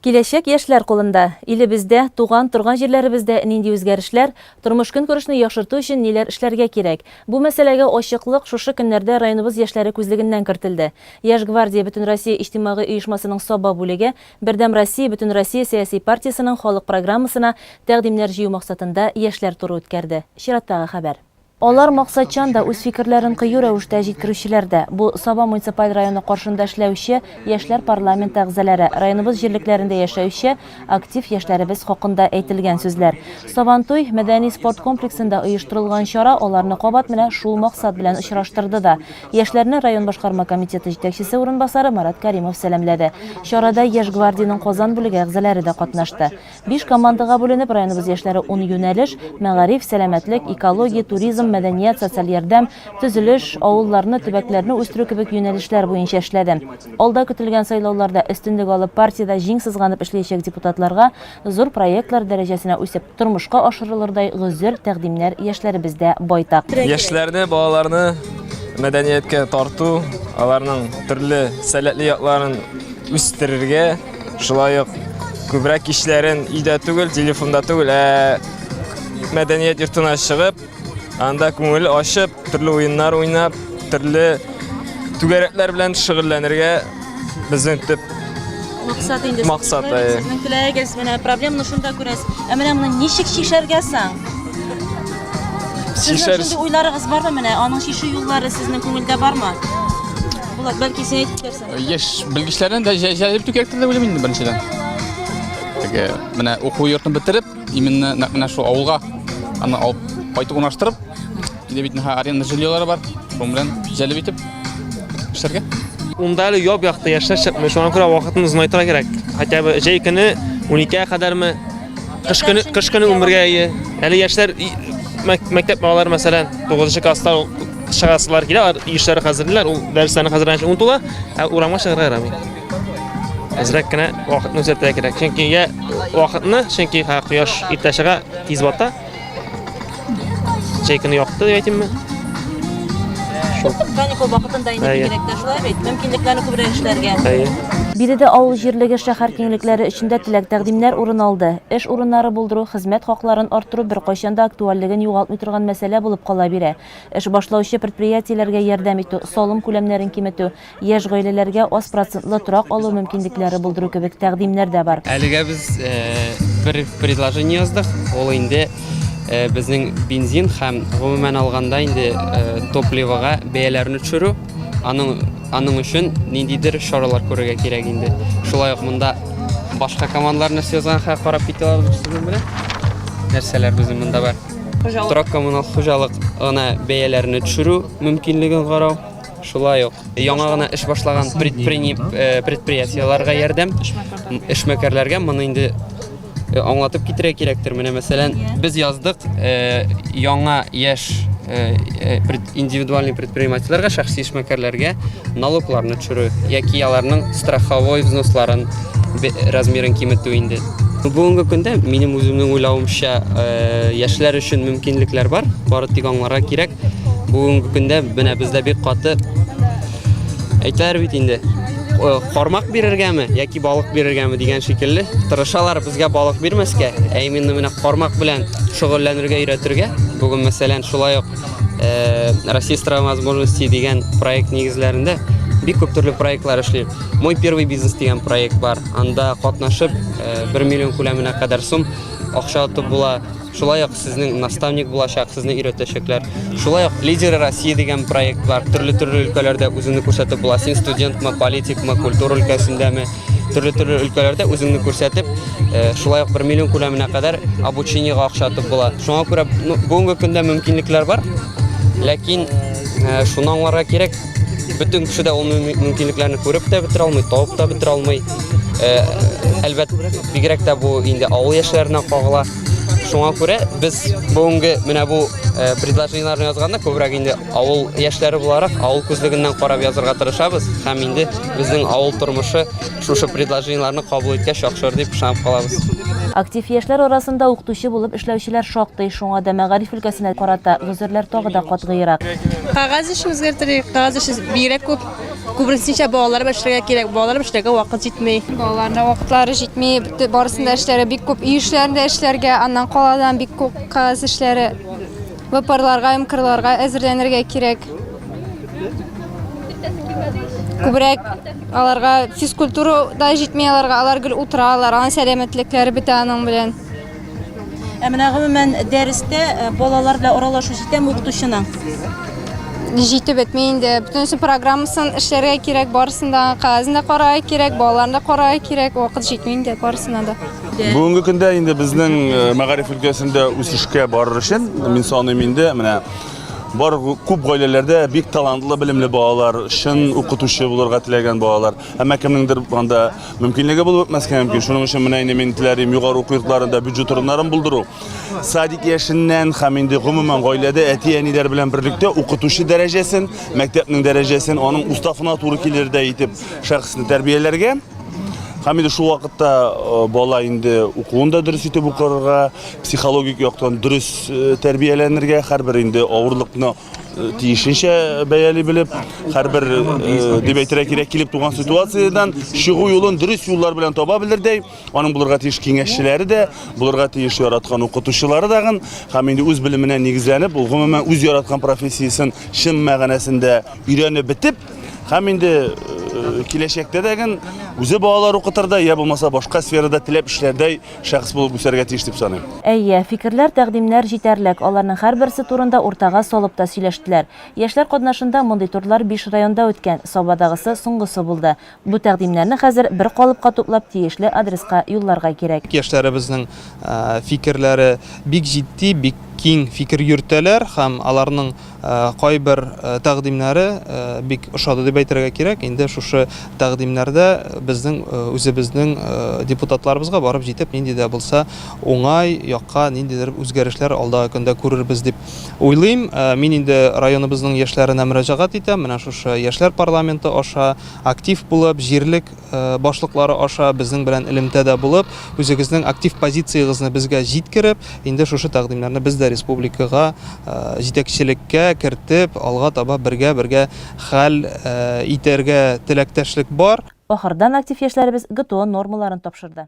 Киләчәк яшьләр кулында. Илебездә, туган, торган җирләребездә нинди үзгәрешләр, тормыш-көнкүрешне яхшырту өчен ниләр эшләргә кирәк? Бу мәсьәләгә ачыклык шушы көннәрдә районыбыз яшьләре күзлегеннән кертелде. Яшь гвардия Бөтенроссия иҗтимагый оешмасының Саба бүлеге Бердәм Россия Бөтенроссия сәяси партиясенең халык программасына тәкъдимнәр җыю максатында яшьләр туры үткәрде. Чираттагы хәбәр. Алар максатчан да, үз фикерләрен кыю рәвештә җиткерүчеләр дә. Бу, Саба муниципаль районы каршында эшләүче яшьләр парламенты әгъзаләре, районыбыз җирлекләрендә яшәүче актив яшьләребез хакында әйтелгән сүзләр. Сабантуй мәдәни-спорт комплексында оештырылган чара аларны кабат менә шул максат белән очраштырды да. Яшьләрне район башкарма комитеты җитәкчесе урынбасары Марат Кәримов сәламләде. Чарада Яшь гвардиянең Казан бүлеге әгъзаләре дә катнашты. Биш командага бүленеп, районыбыз яшьләре ун юнәлеш, мәгариф, сәламәтлек, экология, туризм, мәдәният, социаль ярдәм, төзелеш, авылларны, төбәкләрне үстерү кебек юнәлешләр буенча эшләде. Алда көтелгән сайлауларда өстенлек алып, партиядә җиң сызганып эшләячәк депутатларга зур проектлар дәрәҗәсенә үсеп, тормышка ашырылырдай гозер тәкъдимнәр яшьләребездә байтак. Яшьләрне, балаларны мәдәнияткә тарту, аларның төрле сәләтле якларын үстерергә, Шулай ук күбрәк кичләрен өйдә түгел, телефонда түгел, ә мәдәният йортына чыгып, анда күңел ачып, төрле уеннар уйнап, төрле түгәрәкләр белән шөгыльләнергә безнең төп максат инде. Максат, әйе. Сезнең теләгегез менә проблеманы шунда күрәсез. Ә менә моны ничек чишәргә соң? Сезнең шундый уйларыгыз бармы менә? Аның чишү юллары сезнең күңелдә бармы? Булат, бәлки син әйтеп Яшь белгечләрен дә җәлеп итү кирәктер дип уйлыйм инде беренчедән. Теге менә уку йортын бетереп, именно нәкъ менә шул авылга аны алып кайтып урнаштырып, инде бит нәһә аренда жильелары бар, шуның белән җәлеп итеп эшләргә. Унда әле яп-якты яшьләр чыкмый, шуңа күрә вакытны озынайтырга кирәк. Хотя бы җәй көне 12-гә кадәрме, кыш көне кыш көне 11-гә ие. Әле яшьләр и- мәк- мәктәп балалары мәсәлән 9 класста чыгасылар килә, ишләр хәзерлиләр, ул дәресләрне хәзерләнчә онытыла, ә урамга чыгарга ярамый. Әзрәк кенә вакытны үзәтә кирәк. Чөнки я вакытны, чөнки ха кояш иртә чыга, тиз бата. Чәйкене якты дип әйтимме? Шул. Каникул вакытында инде кирәк тә шулай бит. Мөмкинлекләрне күбрәк эшләргә. Әйе. Биредә авыл җирлеге шәһәр киңлекләре эчендә теләк тәкъдимнәр урын алды. Эш урыннары булдыру, хезмәт хакларын арттыру беркайчан да актуальлеген югалтмый торган мәсьәлә булып кала бирә. Эш башлаучы предприятиеләргә ярдәм итү, салым күләмнәрен киметү, яшь гаиләләргә аз процентлы торак алу мөмкинлекләре булдыру кебек тәкъдимнәр дә бар. Әлегә без бер предложение яздык, ул инде безнең бензин һәм, гомумән алганда, инде топливога бәяләрне төшерү. Аның аның өчен ниндидер чаралар күрергә кирәк инде. Шулай ук монда башка командалар нәрсә язганга карап китә алабыз, нәрсәләр безнең монда бар. Хуҗалык. Торак коммунал хуҗалык гына бәяләрне төшерү мөмкинлеген карау. Шулай ук яңа гына эш башлаган э, предприятиеләргә ярдәм, эшмәкәрләргә моны инде э, аңлатып китерә кирәктер. Менә мәсәлән, без яздык э, яңа яшь индивидуальный предпринимательләргә, шәхси эшмәкәрләргә налогларны төшерү яки аларның страховой взносларын размерын киметү инде. Бүгенге көндә минем үземнең уйлавымча э, яшьләр өчен мөмкинлекләр бар, бары тик аңларга кирәк. Бүгенге көндә менә бездә бик каты әйтәләр бит инде э, кармак бирергәме яки балык бирергәме дигән шикелле тырышалар безгә балык бирмәскә ә именно менә кармак белән шөгыльләнергә өйрәтергә бүген мәсәлән шулай ук Э, Россия страва возможностей дигән проект нигезләрендә бик күп төрле проектлар эшлим. Мой первый бизнес дигән проект бар. Анда катнашып 1 э, миллион күләменә кадәр сум акча атып була. Шулай ук сезнең наставник булачак, сезне өйрәтәчәкләр. Шулай ук Лидеры России дигән проект бар. Төрле-төрле өлкәләрдә үзеңне күрсәтеп була. Син студентмы, политикмы, культура өлкәсендәме? төрле-төрле өлкәләрдә үзеңне күрсәтеп, э, шулай ук 1 миллион күләменә кадәр обучениегә акча атып була. Шуңа күрә ну, бүгенге көндә мөмкинлекләр бар, ләкин э, шуны аңларга кирәк, бөтен кеше дә ул мөмкинлекләрне күреп тә бетерә алмый, табып та бетерә алмый. Э, әлбәт, бигрәк тә бу инде авыл яшьләренә кагыла. Шуңа күрә без бүгенге менә бу э, предложениеләрне язганда күбрәк инде авыл яшьләре буларак авыл күзлегеннән карап язырга тырышабыз һәм инде Безнең авыл тормышы шушы предложениеләрне кабул иткәч яхшыр дип ышанып калабыз. Актив яшьләр арасында укытучы булып эшләүчеләр шактый, шуңа да мәгариф өлкәсенә карата гозерләр тагы да катгыйрак. Кагаз эшен үзгәртерик, кагаз эше бигрәк күп. Күбрәк балалар белән эшләргә кирәк, балалар белән эшләргә вакыт җитми. Балаларның вакытлары җитми, барысында эшләре бик күп, өй эшләрен дә эшләргә, аннан каладан бик күп кагаз эшләре. Вапарларга һәм кырларга әзерләнергә кирәк. Күбрәк аларга физкультура да җитми аларга, алар гел утыралар, аның сәламәтлекләре бетә аның белән. Ә менә гомумән дәрестә э, балалар белән аралашу җитәме укытучының? Җитеп бетми инде. Бөтенесе программасын эшләргә кирәк, барысын да кәгазен дә карарга кирәк, балаларны да карарга кирәк, вакыт җитми инде барысына да. Бүгенге көндә инде безнең э, мәгариф өлкәсендә үсешкә барыр өчен мин саныйм инде менә бар күп гаиләләрдә бик талантлы белемле балалар чын укытучы булырга теләгән балалар әмма кемнеңдер анда мөмкинлеге булып бетмәскә мөмкин шуның өчен менә инде мин теләрим югары уку йортларында бюджет урыннарын булдыру садик яшеннән һәм инде гомумән гаиләдә әти әниләр белән берлектә укытучы дәрәҗәсен мәктәпнең дәрәҗәсен аның уставына туры килердәй итеп шәхесне тәрбияләргә Һәм инде шул вакытта э, бала инде укуын да дөрес итеп укырга, психологик яктан дөрес э, тәрбияләнергә, һәрбер инде авырлыкны э, тиешенчә бәяли белеп, һәрбер дип әйтергә кирәк килеп туган ситуациядән чыгу юлын дөрес юллар белән таба белердәй, аның булырга тиеш киңәшчеләре дә, булырга тиеш яраткан укытучылары дагын, һәм инде үз белеменә нигезләнеп, ул гомумән үз яраткан профессиясен чын мәгънәсендә өйрәнеп бетеп, Һәм инде киләчәктә дә ген үзе балалар укытырда, я булмаса башка сферада теләп эшләрдәй шәхес булып үсәргә тиеш дип саныйм. Әйе, фикерләр, тәкъдимнәр җитәрлек, аларның һәрберсе турында уртага салып та сөйләштеләр. Яшьләр катнашында мондый турлар биш районда үткән, Сабадагысы соңгысы булды. Бу тәкъдимнәрне хәзер бер калыпка туплап тиешле адреска юлларга кирәк. Яшьләребезнең фикерләре бик җитди, бик киң фикер йөртәләр һәм аларның Кайбер тәкъдимнәре бик ошады дип әйтергә кирәк. Инде шушы тәкъдимнәрдә безнең үзебезнең депутатларыбызга барып җитеп, нинди дә булса уңай якка ниндидер үзгәрешләр алдагы көндә күрербез дип уйлыйм. Мин инде районыбызның яшьләренә мөрәҗәгать итәм, менә шушы яшьләр парламенты аша актив булып, җирлек башлыклары аша безнең белән элемтәдә булып, үзегезнең актив позициягезне безгә җиткереп, инде шушы тәкъдимнәрне без дә республикага, җитәкчелеккә кертеп, алга таба бергә-бергә хәл итәргә теләктәшлек бар. Ахырдан актив яшьләребез ГТО нормаларын тапшырды.